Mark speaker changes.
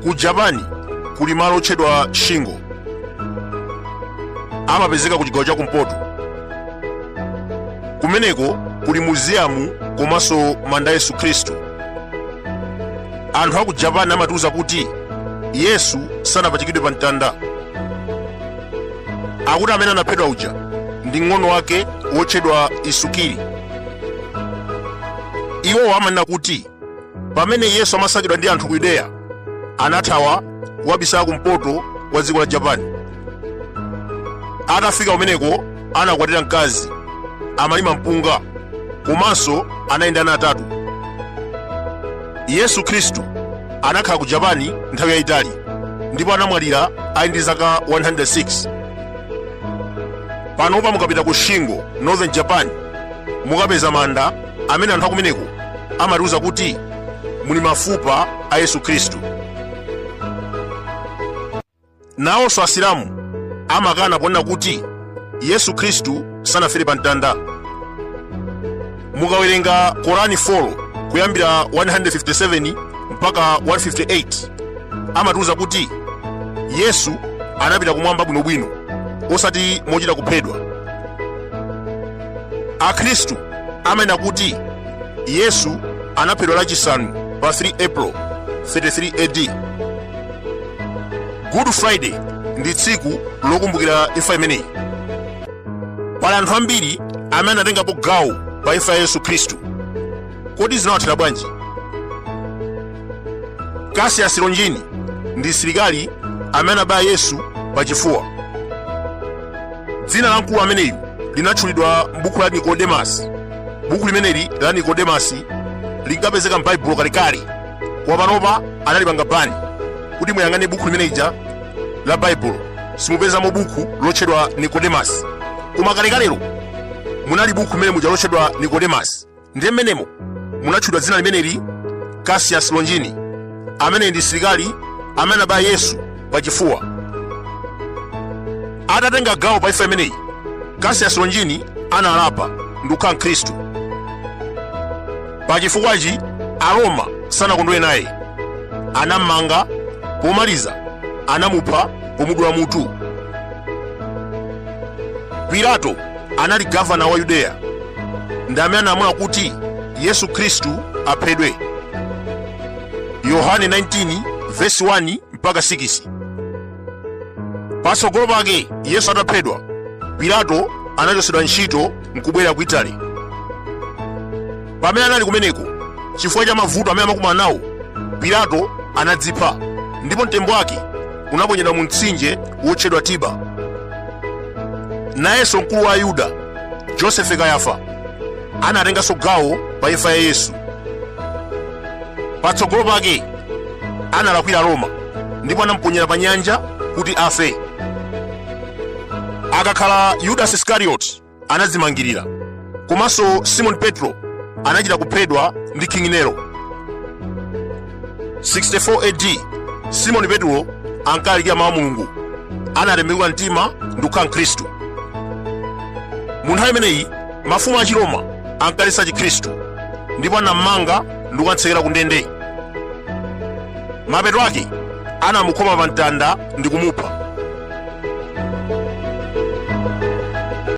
Speaker 1: ku japani kuli malo otchedwa shingo amapezeka ku chigawo cha kumpoto kumeneko kuli muziyamu komanso manda a yesu khristu anthu aku japani amatiuza kuti yesu sanapachikidwe pa mtanda akuti amene anaphedwa uja ndi mng'ono wake wotchedwa isukiri iwowo amanena kuti pamene yesu amasakidwa ndi anthu ku yudeya anathawa kukabisala kumpoto kwa dziko la japani atafika kumeneko anakwatira mkazi amalima mpunga komanso anabereka ana atatu yesu khristu anakhala ku japani nthawi yayitali ndipo anamwalira ali ndi zaka 106 panopa mukapita ku shingo northern japan mukapeza manda amene anthu akumeneko amatiuza kuti muli mafupa a yesu khristu nawonso asilamu amakana ponena kuti yesu khristu sanafere pa mtanda mukawerenga korani 4 kuyambira 157 mpaka 158 amatiuza kuti yesu anapita kumwamba bwinobwino osati mochita kuphedwa akhristu amanena kuti yesu anaphedwa lachisanu pa 3 april 33 ad good friday ndi tsiku lokumbukira imfa imeneyi pali anthu ambiri amene anatengapo gawo pa imfa ya yesu khristu Kodi zinawathera bwanji? Cassius Longini ndi msilikali amene anabaya Yesu pachifuwa. Dzina la mkulu ameneyu linatchulidwa m'buku la Nikodemasi. Buku limeneli la Nikodemasi linkapezeka m'Baibulo kalekale. Koma panopa analipanga bani kuti muyang'ane buku limene lija la Baibulo. Simupezamo buku lotchedwa Nikodemasi. Koma kalekalelo munali buku limeneli muja lotchedwa Nikodemasi. ndiye mmenemo munatchulidwa dzina limeneli cassius longini amene ndi msilikali amene anabaya yesu pachifuwa atatenga gawo pa imfa imeneyi cassius longini analapa ndi kukhala mkhristu pachifukwachi aroma sanakondwere naye anammanga pomaliza anamupha pomudula mutu pilato anali gavana wa yudeya ndi amene analamula kuti yesu khristu aphedwe yohane 19 vesi 1 mpaka 6 patsogolo pake yesu ataphedwa pilato anachotsedwa ntchito nkubwerera ku itali Pamene anali kumeneko, chifukwa cha mavuto amene amakumana nawo, Pilato anadzipha ndipo mtembo wake unaponyedwa mu mtsinje wotchedwa Tiber. Nayenso mkulu wa Ayuda, Josefe Kayafa, anatenganso gawo pa imfa ya Yesu. Patsogolo pake analakwira Roma ndipo anamuponyera pa nyanja kuti afe. Akakhala Yudasi Iskarioti anadzimangirira komanso simoni petro anachita kuphedwa ndi king nero 64 ad simoni petro ankalalikira mawu a mulungu anatembenuka mtima ndi kukhala mkhristu mu nthawi imeneyi mafumu a chiroma ankaletsa chikhristu ndipo anammanga ndi kukatsekera ku ndende mapeto ake anamukhoma pa mtanda ndi kumupha